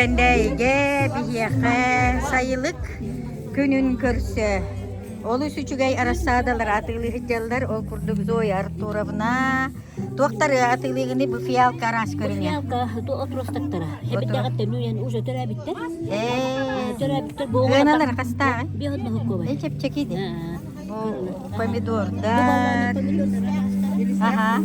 Кэндэйигэ биһиэхэ сайылык күнүн көрсө олус үчүгэй арассаадалары атыылыы сылдьаллар. Ол курдук Зоя Артуровна туохтары атыылыыгыны бу фиалка араас көрүҥэ. Фиалка отростоктара. Эбэттэҕиттэн үйэн уже төрөөбүттэр. Ээ. Төрөөбүттэр бу Ыаналар хастааҕын? Биохот Махукова. Чэпчэкиди. Помидордар. Ага.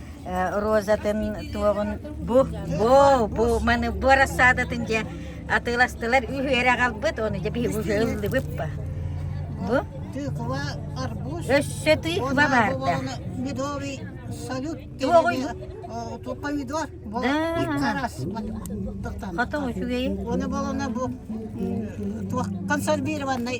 розатын туоҕун бу бу бу маны бу рассадатын дьэ атыыластылар үһүөрэ аҕалбыт ону дьэ биһи уже ылдыбыт па бу тыква арбуз өссө тыква бар да медовый салют туох помидор бу икки раз хотон үчүгэй оны балана бу туох консервированный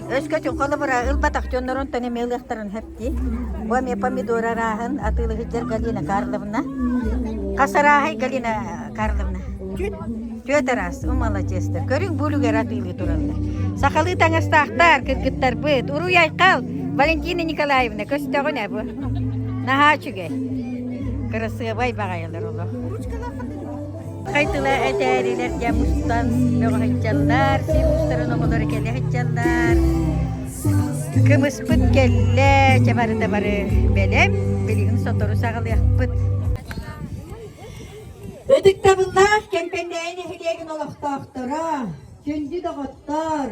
Өскөтүн холобура ылбатах дьоннорун тон эмиэ ылыахтарын сөп дии. Бу эмиэ помидор арааһын атыылы сылдьар Галина Карловна. Хас арааһай Галина Карловна? Түөрт араас. Умалачыста. Көрүҥ буулугар атыылыы тураллар. Сахалыы таҥастаахтар, кыргыттарбыт. Уруй айхал! Валентина Николаевна, көстөҕүн әбу. Наһаа үчүгэй. Кырасыабай баҕайылар олох. Хайтыла этээрилэр дьэ мустан бөҕөһүччаллар, сир устарын омолоро кэлэ һыччаллар. Кымыспыт кэллэ, чэ барыта бары бэлэм, билигин сотору саҕалыахпыт. Ытыктабыллаах Кэмпэндээйи нэһилиэгин олохтоохторо, сүлдьү доҕоттор,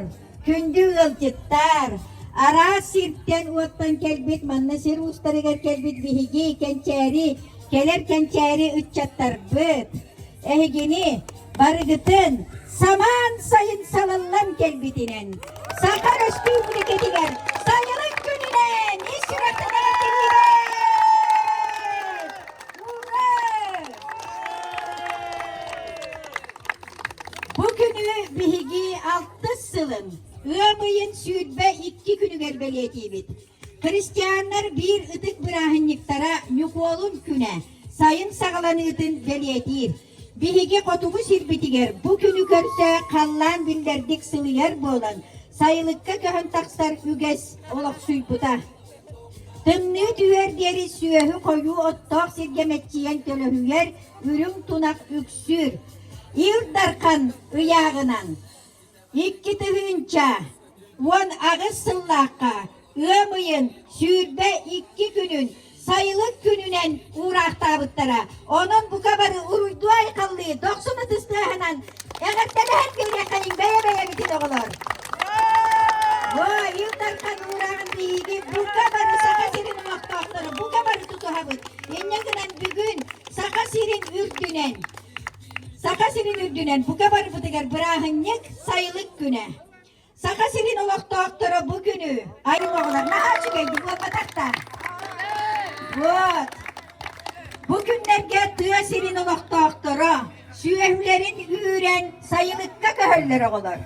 Күндү ыалдьыттар! Араас сиртэн уоттан кэлбит, манна сир уустарыгар кэлбит биһиги кэнчээри, кэлэр кэнчээри ыччаттарбыт. Эһигини барыгытын самаан сайын салаллан кэлбитинэн Саха Өрөспүүбүлүкэтигэр сайылык күнүнэн ис сүрэхтэнэн Бу күнү биһиги алтыс сылын ыам ыйын сүүрбэ икки күнүгэр бэлиэтиибит. Христианнар биир ытык бырааһынньыктара Ньукуолун күнэ сайын саҕаланыытын бэлиэтиир. Биһиги хотугу сирбитигэр бу күнү көрсө халлаан биллэрдик сылыйар буолан, сайылыкка көһөн тахсар үгэс олохсуйбута. Тымныы түһэр диэри сүөһү-хойуу оттоох сиргэ мэччийэн төлөһүгэр үрүҥ тунах үксүүр. Ил Дархан ыйааҕынан икки тыһыынча уон аҕыс сыллаахха ыам ыйын сүүрбэ икки күнүн сайылык күнүнэн уураахтаабыттара Онон бука бары уруйдуу-айхаллыы, дохсун ытыс тыаһынан эҕэрдэлэһэн биэриэхтэрин бэйэ-бэйэбитин оҕолор. Бу Ил Дархан уурааҕын биһиги бука бары Саха сирин олохтоохторо бука бары тутуһабыт. Инньэ гынан бүгүн Саха сирин үрдүнэн Саха сирин үрдүнэн бука барыбытыгар бырааһынньык сайылык күнэ. Саха сирин олохтоохторо бу күнү аймаҕылар наһаа үчүгэйдик уоппатахтар. Вот. Бу күннэргэ тыа сирин олохтоохторо сүөһүлэрин үүрэн сайылыкка көһөллөр оҕолор.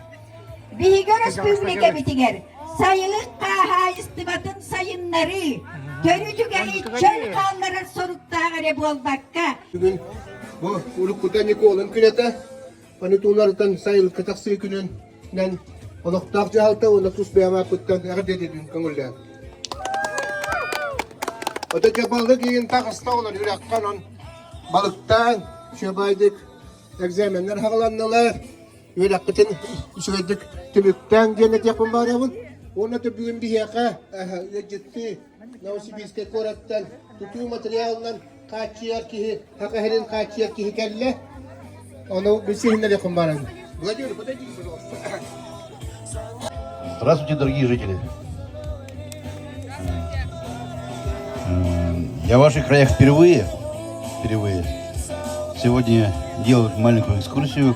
Биһиги өрөспүүбүлүкэбитигэр сайылык хаһаайыстыбатын сайыннарыы төрү түгэһи чөл хаалларар соруктаах эрэ буолбакка, Бүгүн бу Уруккута Николын күнэтэ Понятуларытын сайылыкка тахсыы күнүнэн олохтоох дьаһалта уонна тус бэйэм ааппыттан эҕэрдэтитин көҥүллээн. Ото дьэ балык иин таҕыста олор үрэххэ онон балыктаан, шөбайдык экзаменнер хаҕыланнылар. Үрэхпитин үчүгэйдик түбүктээн диэн этиэхпин баарабын. Уонна төбүүн биһиэхэ ыалдьыттыы Новосибирскай куораттан тутуу материалынан хааччыйар киһи, Хакаһирин хааччыйар киһи кэллэ. Ону билсиһиннэриэххин баран. Владимир, подойдите, пожалуйста. Здравствуйте, дорогие жители. Я в ваших краях впервые, впервые сегодня делаю маленькую экскурсию